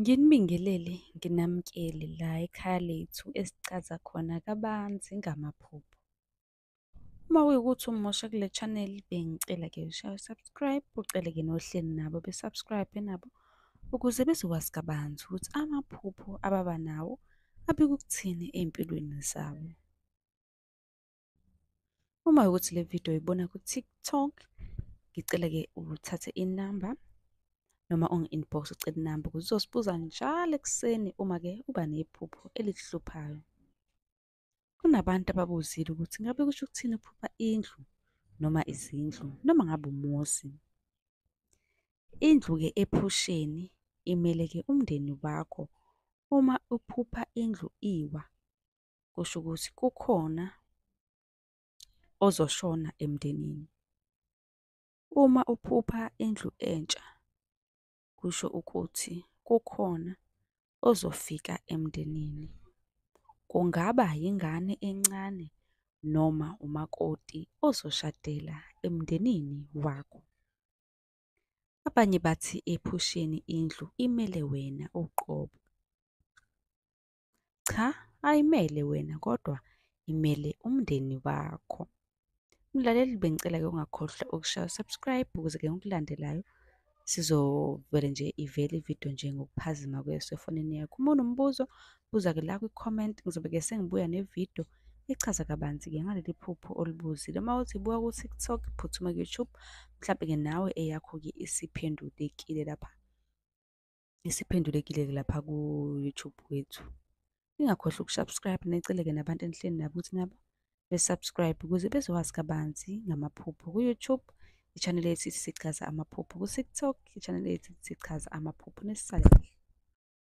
Nginibingelele nginamukele la ekhaya lethu esicaza khona kabanzi ngamaphupho. Uma kuyukuthi umusha kule channel bengicela ke ushaye subscribe ucele ke nohleli nabo be subscribe nabo ukuze bezokwazi kabanzi ukuthi amaphupho ababa nawo abikukuthini empilweni zabo. uma ukuthi le video uyibona ku-tiktok ngicela-ke uthathe inamba noma ungi-inbox ucela inamba ukuthi uzosibuza njalo ekuseni uma-ke uba nephupho elikuhluphayo kunabantu ababuzile ukuthi ngabe kusho ukuthini ukuphupha indlu noma izindlu noma ngabe umuzi indlu-ke ephusheni imele-ke umndeni wakho uma uphupha indlu iwa kusho ukuthi kukhona ozoshona emndenini. Uma uphupha indlu entsha kusho ukuthi kukhona ozofika emndenini. Kungaba yingane encane noma umakoti ozoshadela emndenini wakho. Abanye bathi ephusheni indlu imele wena uqobo. Cha, ayimele wena kodwa imele umndeni wakho. Mlaleli bengicela-ke ungakhohlwa ukushaya subscribe ukuze-ke ngikulandelayo sizovele nje ivele ividiyo nje ngokuphazima kweso efonini yakho. Uma unombuzo buza-ke la kwi-comment ngizobe-ke sengibuya nevidiyo ichaza kabanzi-ke ngaleli phupho olibuzile. Uma uthi buka ku-TikTok phuthuma ku-YouTube mhlampe-ke nawe eyakho-ke isiphendulekile lapha. isiphendulekile-ke lapha ku-YouTube wethu. Ningakhohlwa ukusubscribe neceleke nabantu enihleli nabo ukuthi nabo besubscribe ukuze bezowazi kabanzi ngamaphupho ku-YouTube i-channel yethu sichaza amaphupho ku-TikTok i-channel yethu sichaza amaphupho nesisale